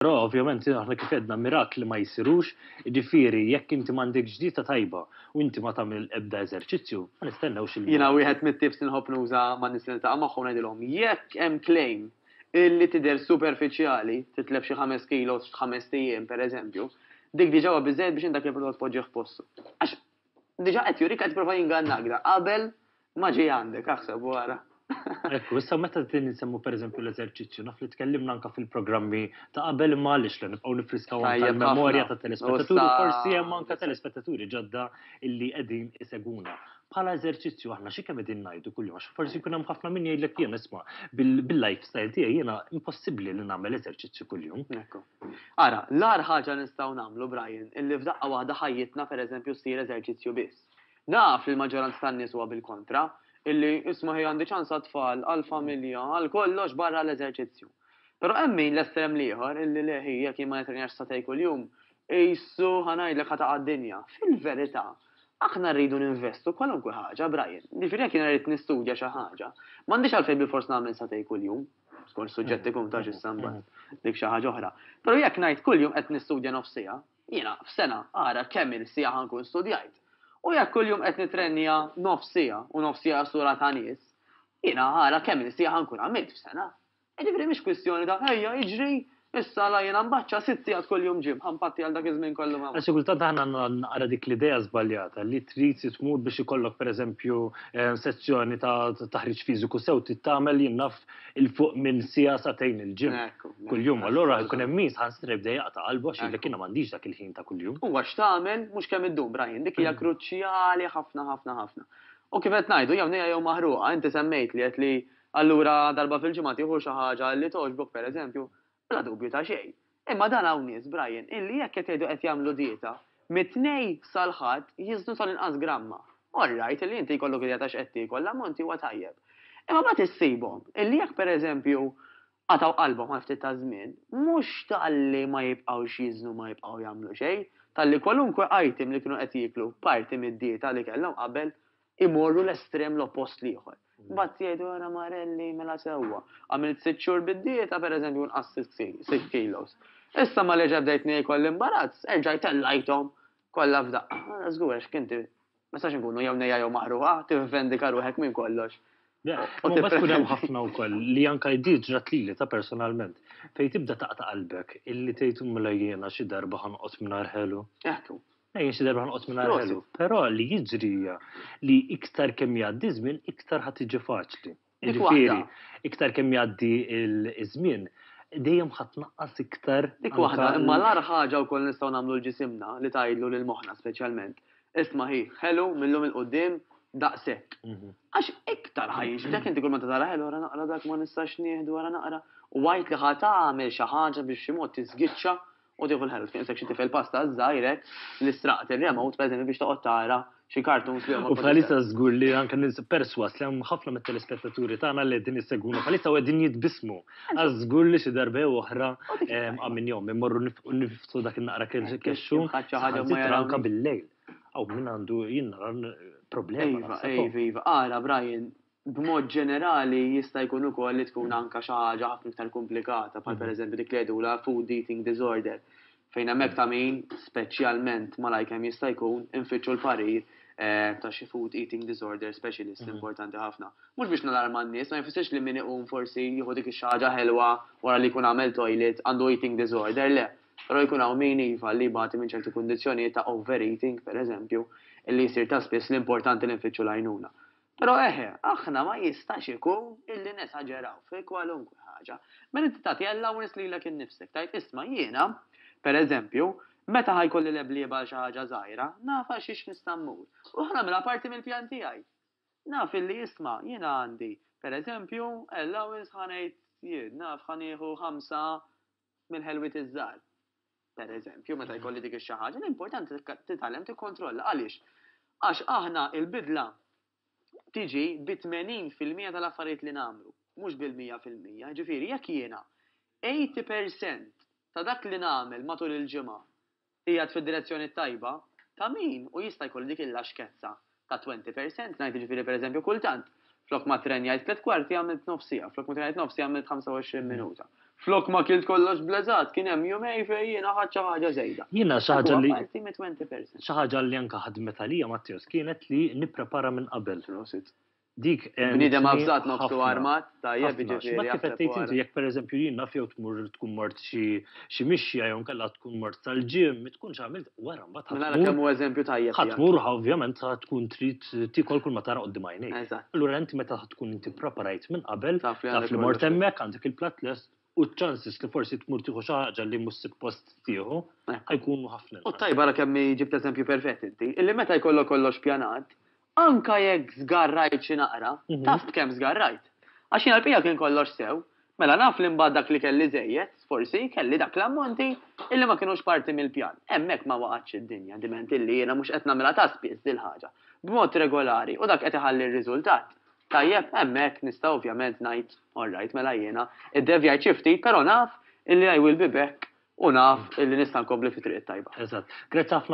Però ovvjament aħna kif għedna mirakli ma jsirux, jiġifieri jekk inti m'għandekx dieta tajba u inti ma tagħmel ebda eżerċizzju, ma nistennewx li. Jiena wieħed mit-tips li nħobb nuża man-nies li niltaqa' magħhom ngħidilhom jekk hemm claim illi tidher superfiċjali, titlef xi ħames kilos f'ħamest ijiem pereżempju, dik diġà huwa biżżejjed biex int dak il-prodott tpoġġih f'postu. Għax Diġa qed jurik qed prova jingannak da qabel ma ġej għandek aħseb wara. Ekku, issa meta din insemmu pereżempju l-eżerċizzju, naf li tkellimna anka fil-programmi ta' qabel imma għaliex li nibqgħu nifriskaw il-memorja ta' telespettaturi, forsi hemm anka telespettaturi ġodda illi qegħdin iseguna. Bħala eżerċizzju aħna xi kemm qegħdin ngħidu kuljum għax forsi jkun hemm ħafna min jgħidlek jien isma' bil-lifestyle tiegħi jiena impossibbli li nagħmel eżerċizzju kuljum. Ekku. Ara, l-agħar ħaġa nistgħu nagħmlu, Brian, illi f'daqqa waħda ħajjitna, per eżempju, ssir eżerċizzju biss. Naf li l-maġġoranza tan-nies huwa bil-kontra, illi, isma' hi għandi ċans għat-tfal, għall-familja, għal kollox barra l-eżerċizzju. Però hemm min, l-estrem l-ieħor, illi le hi, jekk jien ma nitrenjax satej kuljum, qisu, ħa ngħidlek, ħa taqa' d-dinja. Fil-verità, aħna rridu ninvestu kwalunkwe ħaġa, Brian. Jiġifieri jekk jiena rrid nistudja xi ħaġa, m'għandix għalfejn bilfors nagħmel satej kuljum. Skont suġġett ikun ta' x'issa mbagħad. Dik xi ħaġa oħra. Però jekk ngħid kuljum qed nistudja nofs siegħa, jiena f'sena ara kemm il siegħa ħankun studjajt. U jekk kuljum qed nitrennija nofs siegħa u nofs siegħa sura ta' nies, jiena ara kemm il siegħa ħankun għamilt f'sena. Jiġifieri mhix kwistjoni ta' ejja iġri Issa la jiena mbaċċa sitt sigħat kuljum ġim, ħa npatti għal dak iż-żmien kollu ma. Xi kultant aħna għandna naqra dik l-idea żbaljata li trid tmur biex ikollok pereżempju sezzjoni ta' taħriġ fiżiku sew trid tagħmel jien naf 'il fuq minn siegħa sagħtejn il-ġim kuljum u allura jkun hemm min saħansitra jibda jaqta' qalbu għax jgħidlek jiena m'għandix dak il-ħin ta' kuljum. Huwa x'tagħmel mhux kemm iddum Brian, dik hija kruċjali ħafna ħafna ħafna. U kif qed ngħidu jew nejja jew maħruqa, inti semmejtli għedt li Allura darba fil-ġimgħa tieħu xi ħaġa li togħġbok pereżempju, bla dubju ta' xejn. Imma dan hawn nies, Brian, illi jekk qed jgħidu qed jagħmlu dieta, mit-Tnejn sal-Ħadd jiżnu tal-inqas gramma. All right, illi inti jkollok idea ta' x'qed tiekol, l-ammonti huwa tajjeb. Imma mbagħad issibhom illi jekk pereżempju qatgħu qalbhom għal ftit taż-żmien, mhux talli ma jibqgħux jiżnu ma jibqgħu jagħmlu xejn, talli kwalunkwe item li kienu qed jieklu parti mid-dieta li kellhom qabel, imorru l-estrem l-oppost l-ieħor. Mbagħad jgħidu ara Marelli mela sewwa. Għamilt sitt xhur bid-dieta pereżempju nqass sitt kilos. Issa ma reġa' bdejt niekol l-imbarazz, erġajt tellajthom kollha f'daqqa. Ara żgur għax inti ma nistax inkunu jew nejja jew maqrugħa, tivvendika ruħek minn kollox. Mbagħad tkun hemm ħafna wkoll li anke di ġrat lili ta' personalment fejn tibda taqta' qalbek illi tgħid mela jiena xi darba ħa noqgħod mingħajr ħelu. Eħtu. Ejja xi darba nqgħod minn ħelu, però li jiġri hija li iktar kemm jgħaddi żmien iktar ħadd tiġi faċli. Jiġifieri, iktar kemm jgħaddi ż-żmien dejjem ħadd naqqas iktar. Dik waħda, imma l-agħar ħaġa wkoll nistgħu nagħmlu l-ġisimna li tgħidlu lil moħħna speċjalment. Isma' hi, ħelu mill-lum il-quddiem daqshekk. Mhm. Għax iktar ħajġbdek inti kull ma tara ħelu ara naqra dak ma nistax nieħdu ara naqra. U għajt li ħadd għamel xi ħaġa biex xi mod tiżgiċċa U tieħu l-ħelf, kien sekk xi tifel pasta żgħirek li straqt ir-remote pereżempju biex toqgħod tara xi cartoons li huma. U bħalissa żgur li anke nins perswas li hemm ħafna mit-telespettaturi tagħna li qegħdin issegwuna bħalissa u qegħdin jitbismu. Għaż żgur li xi darba jew oħra minn jom immorru niftu dak in-naqra kexxu anke bil-lejl. Aw min għandu jien nara problema. Iva, iva, iva, ara Brian, B'mod ġenerali, jista' jkun ukoll li tkun anke xi ħaġa ħafna iktar komplikata, bħal pereżempju dik li jgħidulha food eating disorder, fejn hemmhekk ta' min, speċjalment malajr kemm jista' jkun, infittxu l-parir ta' xi food eating disorder specialist importanti ħafna. Mhux biex nalarma n-nies, ma jfissirx li min iqum forsi jieħu dik ix-xi ħaġa ħelwa wara li jkun għamel toilet għandu eating disorder, le. Però jkun hawn min, iva, li jbati minn ċerti kundizzjonijiet ta' overeating, pereżempju, li jsir ta' spiss li importanti li nfittxu l-għajnuna. Però eħe, aħna ma jistax ikun illi nesaġeraw fi kwalunkwe ħaġa. Meta inti tagħti allowance lilek innifsek, tgħid, isma' jiena, per eżempju, meta ħa jkolli leblieba għal xi ħaġa żgħira, naf għal xiex nista' mmur, u ħa nagħmilha parti mill-pjan tiegħi. Naf illi, isma', jiena għandi, per eżempju, allowance ħa ngħid jien, naf ħa nieħu ħamsa mill-ħelwiet iż-żgħar. Per eżempju, meta mhm. jkolli dik xi ħaġa, l-importanti titgħallem tikkontrolla għaliex. Għax aħna il-bidla tiġi bi 80% tal-affarijiet li nagħmlu, mhux bil-100%. Ġifieri jekk jiena 80% ta' dak li nagħmel matul il-ġimgħa Qiegħed fid-direzzjoni t-tajba, ta' min u jista' jkollu dik il-laxkezza ta' twenty percent, ngħid jiġifieri pereżempju kultant flok ma ttrenjajt tliet kwarti għamilt nofs siegħa, flok ma ttrenjajt nofs siegħa għamilt 25 minuta, flok ma kilt kollox bleżat kien hemm jumej fejn jiena ħadt xi ħaġa żejda. Jiena xi ħaġa li. Dak huwa parti mit-twenty percent. Xi ħaġa li anke ħadmet għalija Matteos kienet li nipprepara minn qabel. Prosit. Dik Bniedem avżat ma f'su armat, tajjeb jiġifieri. Kif qed tgħid inti jekk pereżempju jien naf jew tmur tkun mort xi mixja jew inkella tkun mort tal-gym, ma tkunx għamilt wara mbagħad. Mela ara kemm hu eżempju tajjeb. Ħa tmur ovvjament ħa tkun trid tiekol kull ma tara quddiem għajnejk. Eżatt. Allura inti meta tkun inti ppreparajt minn qabel, taf li mort hemmhekk, għandek il-platt lest, u ċ-ċansis li forsi tmur tieħu xi ħaġa li mhux suppost tieħu jkunu ħafna. U tajba ra kemm ġibt eżempju perfett inti, illi meta jkollok kollox pjanat, anka jekk żgarrajt xi naqra, mhm. taf kemm żgarrajt. Għax jiena l-bija kien kollox sew, mela naf li mbagħad dak li kelli żejjed, forsi kelli dak l-ammonti illi ma kienux parti mill-pjan. Hemmhekk ma waqgħatx id-dinja diment illi jiena mhux qed nagħmilha ta' spiss dil-ħaġa. B'mod regolari u dak qed iħalli r-riżultat. Tajjeb, hemmhekk nista' ovvjament ngħid, all right, mela jiena iddevjajt xi ftit, però naf illi I will be back u naf illi nista' nkompli fit-triq it-tajba. Eżatt. Grazzi ħafna